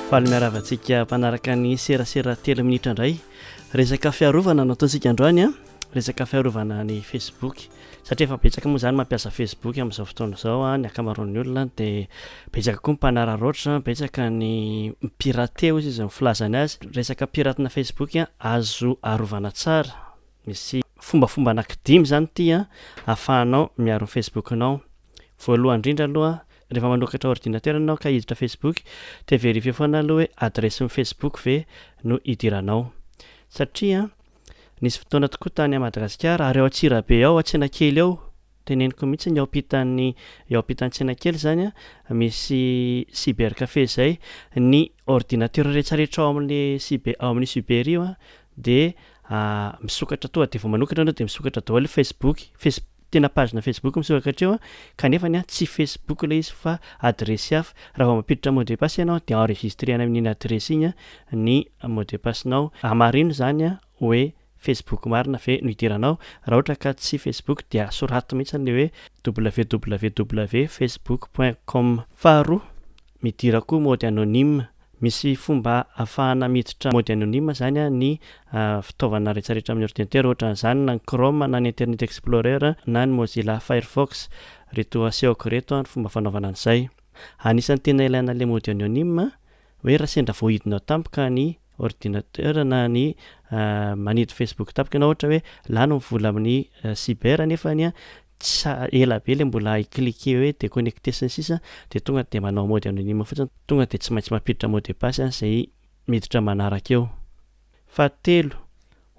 faly miaravantsika mpanaraka ny serasera telo minitra indray resaka fiarovana no ataontsika androany a resaka fiarovana ny facebook satria efa betsaka moa zany mampiasa facebook amin'izao fotoana izao a ny akamaroan'ny olona dia betsaka koa ny mpanararaotra betsaka ny pirate ozy izy ny filazany azy resaka piratena facebook a azo arovana tsara Misy fombafomba anankidimy izany ity an, ahafahanao miaro ny Facebook-nao. Voalohany indrindra aloha, rehefa manokatra ordinatera ianao ka hiditra Facebook dia verifier foana aloha hoe adiresin'ny Facebook ve no hidiranao. Satria nisy fotoana tokoa tany Madagasikara ary ao Antsirabe ao, ao Tsenakely ao, Teneniko mihitsy ny ao ampitan'ny eo ampitan'ny tsena kely izany an, misy cyber café izay, ny ordinateur rehetra rehetra ao amin'ny cyber ao amin'io cyber io an dia misokatra tonga dia vao manokatra ianao dia misokatra daholo facebook face tena pagena facebook misokatra hatreo an, kanefa ny an tsy facebook ilay izy fa adiresy hafa, raha vao mampiditra mot de passe ianao dia enregistrena amin'iny adiresy iny an ny mot de passe nao, hamarino izany an. hoe Facebook marina ve no idiranao? Raha ohatra ka tsy Facebook dia soraty mihitsy ny hoe www facebook point com. Faharoa, midira koa mode anonyme. Misy fomba afahana miditra mode anonyme izany ny fitaovana rehetrarehetra amin'ny ordinatera, ohatran'izany na ny Chrome na ny Internet Explorer na ny Mozilla Firefox. Ireto asehoko ireto ny fomba fanaovana an'izay. Anisan'ny tena ilaina ilay mode anonyme Hoe raha sendra voahidinao tampoka ny ordinateur na ny manidy Facebook tampoka ianao ohatra hoe lany ny vola amin'ny cyber nefa ny tsy ela be le mbola hi cliquer hoe déconnecter sy ny sisa dia tonga dia manao mode anonyme fotsiny tonga dia tsy maintsy mampiditra mot de passe izay miditra manaraka eo. Fahatelo,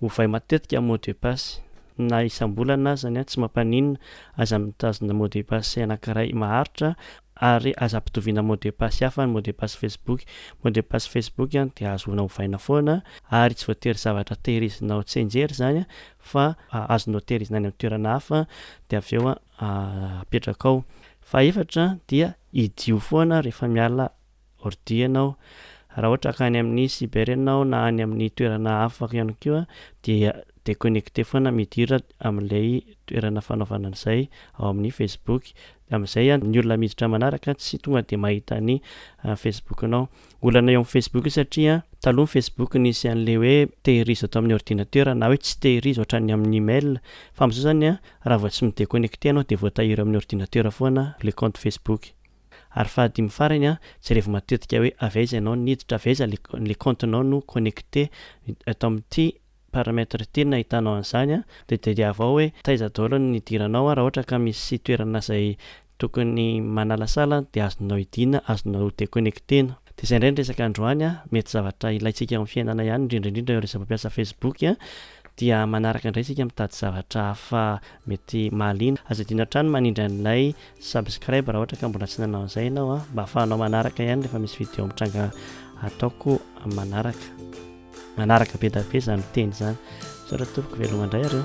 ovay matetika mot de passe. Na isam-bolana aza ny an, tsy mampaninona, aza mitazona mot de passe anankiray maharitra ary aza ampitoviana mot de passe hafa ny mot de passe Facebook. Mot de passe Facebook an dia ahazoana ovaina foana ary tsy voatery zavatra tehirizina ao Tsenjery izany an fa azonao tehirizina any amin'ny toerana hafa dia avy eo an apetraka ao. Fahefatra dia idio foana rehefa miala ordi ianao. Raha ohatra ka any amin'ny cyber ianao na any amin'ny toerana hafa ihany koa dia deconnecter foana midira amin'ilay toerana fanaovana an'izay ao amin'ny facebook amin'izay ny olona miditra manaraka tsy tonga dia mahita ny facebook-nao. Olana eo amin'ny facebook satria taloha ny facebook nisy an'ilay hoe tehirizo ato amin'ny ordinateur na hoe tsy tehirizo ohatran'ny amin'ny mail fa amin'izao izany raha vao tsy mi-deconnecter ianao dia voatahiry eo amin'ny ordinateur foana ilay compte facebook. Ary fahadimy farany an, jerevo matetika hoe avy aiza ianao no niditra, avy aiza le compte nao no connecte eto amin'ity paramètre ity no nahitanao an'izany an, de tadiavo ao hoe taiza daholo no nidiranao an, raha ohatra ka misy toerana izay tokony manalasala an de azonao hidiana, azonao ho deconnectena. De izay indray ny resaka androany an, mety zavatra ilaintsika eo amin'ny fiainana ihany indrindra indrindra ireo izay mampiasa facebook an, dia manaraka indray isika mitady zavatra hafa mety mahaliana, aza adino hatrany manindry an'ilay Subscribe raha ohatra ka mbola tsy nanao an'izay ianao a, mba ahafahanao manaraka ihany rehefa misy vidéo mitranga ataoko manaraka. Manaraka be da be izany teny izany. Misaotra tompoko, veloma indray areo.